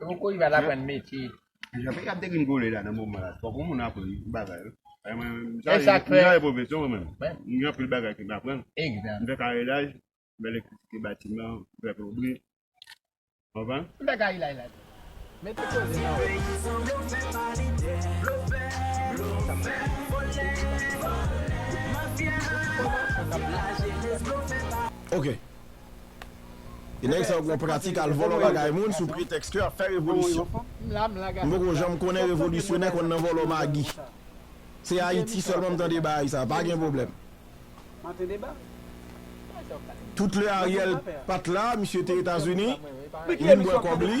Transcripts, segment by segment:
Yon koz bat aprann metye. Jan peyi ap degringole la nan moman la fok yon moun aprann bagay wi. E sak fè. Mwen pwofesè mwen menm. Mwen gen anpil bagay ke m aprann. Egzanp. Mwen fè karilaj, mwen fè elektrisite batiman, mwen fè plonbri. Konprann? Mwen fè karilaj la tou. Mete koze nan wòl. Tout enfòmasyon kap la. Ok. E nèg sa yo gen yon pratik al vòlò bagay moun sou pretèks ke yap fè revolisyon. M poko janm konnen revolisyonè konn nan vòlò magi. Se Ayiti sèlman m tande bagay sa, pa gen pwoblèm. Tout lè Ariel pat la, misye te Etazini, li vin bwè kòb li.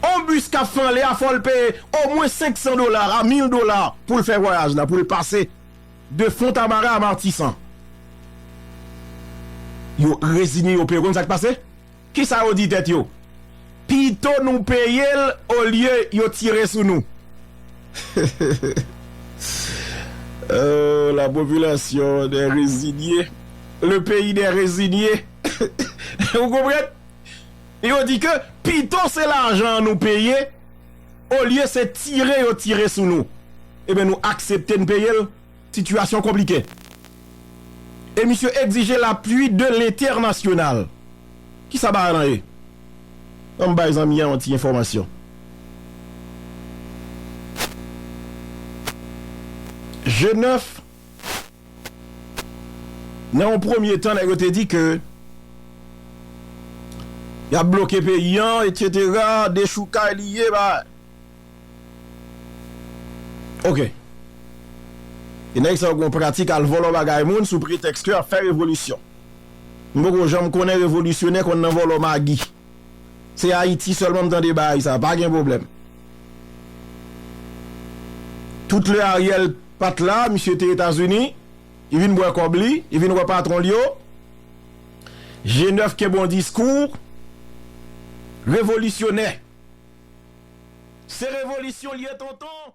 On bus kap fè anle a fòl peye omwen 500 dola a 1000 dola poul fè vwayaj la poul pase de fontamara a matisan yo rezine yo peye konn sak pase kisa yo di tèt yo pito nou peyel olye yo tire sou nou ooh la population des resignes le pays des resignes ou konprann. Yo di ke pito se lajan an nou peye olye se tire yo tire sou nou. Eben nou aksepte n peye l, sitiyasyon konplike. E misye egzije lapui de lentènasyonal. Kisa bagay lan ye? Ban m bay zanmi an yon ti enfòmasyon. Genèf. Nan yon premye tan nèg yo te di ke yap bloke peyi an etc. Dechoukay li ye ba ok. E nèg sa yo gen yon pratik al vòlò bagay moun sou pretèks ke yap fè revolisyon. M poko janm konnen revolisyonè konn nan vòlò magi. Se Ayiti sèlman m tande baay sa. Pa gen pwoblèm. Tout lè Ariel. pat la, misye te etazini, li vin bwè kòb li, li vin wè patron l yo, G9 ke bon diskou, revolisyonè. Se revolisyon l ye tonton.